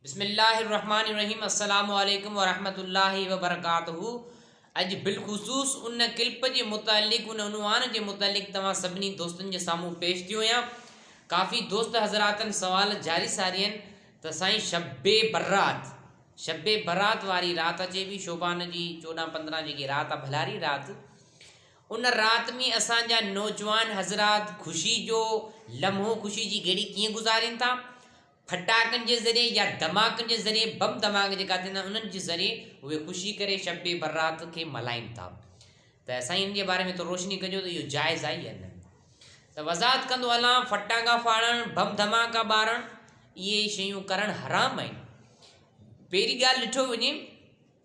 بسم الله الرحمٰن الرحيم السلام عليڪم ورحمة الله وبرڪاته اڄ بالخصوص ان ڪلپ جي متعلق ان عنوان جي متعلق توهان سڀني دوستن جي سامهون پيش ٿيو آهيان ڪافي دوست حضراتن سوال جاري ساري آهن ته سائين شب برات شب برات واري رات اچي پي شوبان جي چوڏهن پندرهن جيڪي رات آهي ڀلاري رات ان رات ۾ اسان جا نوجوان حضرات خوشي جو لمحو خوشي جي گهڙي ڪيئن گذارين ٿا ڦٽاڪن جي ذريعي يا ڌماڪن جي ذريعي بم ڌماڪا جيڪا ٿيندا آهن انهن جي ذريعي اهي خوشي ڪري شب برات کي ملهائين ٿا ته سائين ان جي باري ۾ ٿورو روشني ڪجو ته اهو جائز آهي يا نه ته وضاحت ڪندو هلان ڦٽاڪا ڦاڙڻ بم ڌماڪا ٻارڻ اهي شيون ڪرڻ حرام آهن پهرين ڳالهه ڏٺو وڃي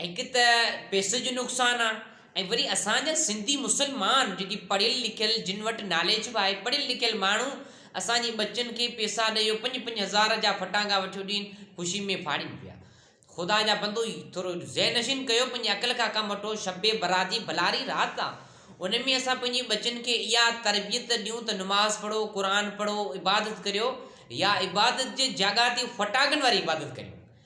هڪ ته پئسي جو نقصان آ ۽ وري اسان جا سنڌي مسلمان جيڪي پڙهيل لکيل جن وٽ ناليج به آهي پڙهيل لکيل ماڻهو اسان جي ٻچن کي پئسا ڏئي اهو پنج پنج هزار جا ڦٽانگا وٺيو ڏين خوشي ۾ ڦاڙين پيا خدا جا بندو ٿورو ذهن نشين ڪيو پنهنجي عقل کان ڪم وٺو شب برات جي ڀلاري رات آ ان ۾ اسان پنهنجي ٻچن کي اها تربيت ڏيون ته نماز پڙهو قرآن پڙهو عبادت ڪريو يا عبادت جي جاڳا تي ڦٽاڪن واري عبادت ڪريو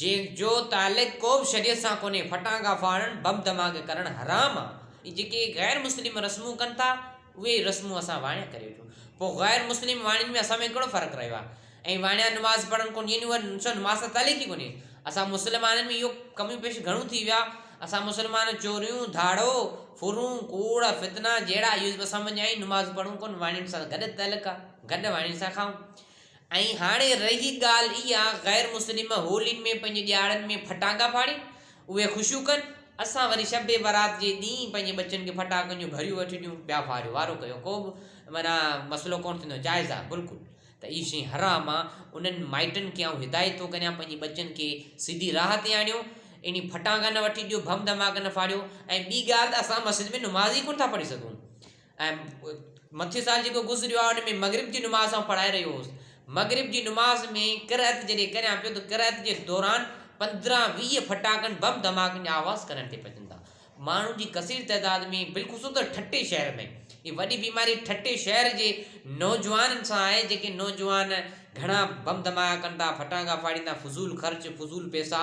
جنهن جو تعلق ڪوبه شريعت سان ڪونهي، ڦٽانگا ڦاڙڻ، بم ڌماڪي ڪرڻ حرام آ، ۽ جيڪي غير مسلم رسمون ڪن ٿا اهي ئي رسمون اسان واڻيا ڪري وٺون، پوء غير مسلم واڻين ۾ اسان ۾ ڪهڙو فرق رهيو آ، ۽ واڻيا نماز پڙهن ڪون ڏينيون ۽ ڏسو نماز سان تعلق ئي ڪونهي، اسان مسلمانن ۾ اهو ڪميون پيش گهڻيون ٿي ويا، اسان مسلمان چوريون، ڌاڙو، ڦرون، ڪوڙ، فتنا جهڙا اهي اسان ۾ اڃا ائين نماز پڙهون ڪون واڻين سان گڏ تعلق آ، گڏ واڻين سان کائون. ۽ هاڻي رهي ڳالهه اها غير مسلم هولين ۾ پنهنجي ڏيهاڙن ۾ ڦٽاڪا ڦاڙين، اهي خوشيون ڪن، اسان وري شب برات جي ڏينهن پنهنجي ٻچن کي ڦٽاڪن جون گهڙيون وٺي ڏيون، ٻيا ڦاڙيو وارو ڪيو ڪو به معنيٰ مسئلو ڪونه ٿيندو، جائز آهي بلڪل ته اهي شيون حرام آهن، انهن مائٽن کي آئون هدايت ٿو ڪريان پنهنجي ٻچن کي سڌي راهه تي آڻيو، اهڙي ڦٽاڪا نه وٺي ڏيو، بم ڌماڪا نه ڦاڙيو ۽ ٻي ڳالهه ته اسان مسجد ۾ نماز ئي ڪونه ٿا پڙهي سگهون. ۽ مٿيون سال جيڪو گذريو آهي ان ۾ مغرب جي نماز آئون پڙهائي رهيو هوس مغرب جي نماز ۾ قرعت جڏهن ڪريان پيو ته قرعت جي دوران پندرهن ويهه ڦٽاڪن بم ڌماڪن جا آواز ڪنن تي پچن ٿا ماڻهن جي ڪثير تعداد ۾ بالخصوص ته ٺٽي شهر ۾ هي وڏي بيماري ٺٽي شهر جي نوجوانن سان آهي جيڪي نوجوان گهڻا بم ڌماڪا ڪن ٿا ڦٽاڪا ڦاڙين ٿا فضول خرچ فضول پيسا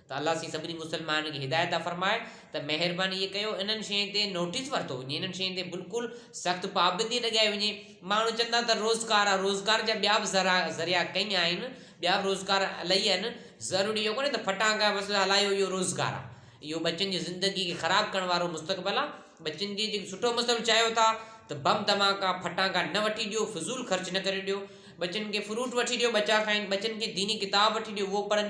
ته الله سين سڀني مسلمانن کي هدايت عطا فرمائي ته مهرباني اهي ڪيو انهن شين تي نوٽيس ورتو وڃي انهن شين تي بلڪل سخت پابندي لڳائي وڃي ماڻهو چون ٿا ته روزگار آهي روزگار جا ٻيا به ذرا ذريعا ڪئين آهن ٻيا به روزگار الائي آهن ضروري اهو ڪونهي ته ڦٽانڪا بس هلايو اهو روزگار آهي اهو ٻچن جي زندگي کي خراب ڪرڻ وارو مستقبل آهي ٻچن جي جيڪو سٺو مستقبل چاهيو ٿا ته بم دھماڪا ڦٽانڪا نه وٺي ڏيو فضول خرچ نه ڪري ڏيو ٻچن کي فروٽ وٺي ڏيو ٻچا کائن ٻچن کي ديني ڪتاب وٺي ڏيو اهو پڙهن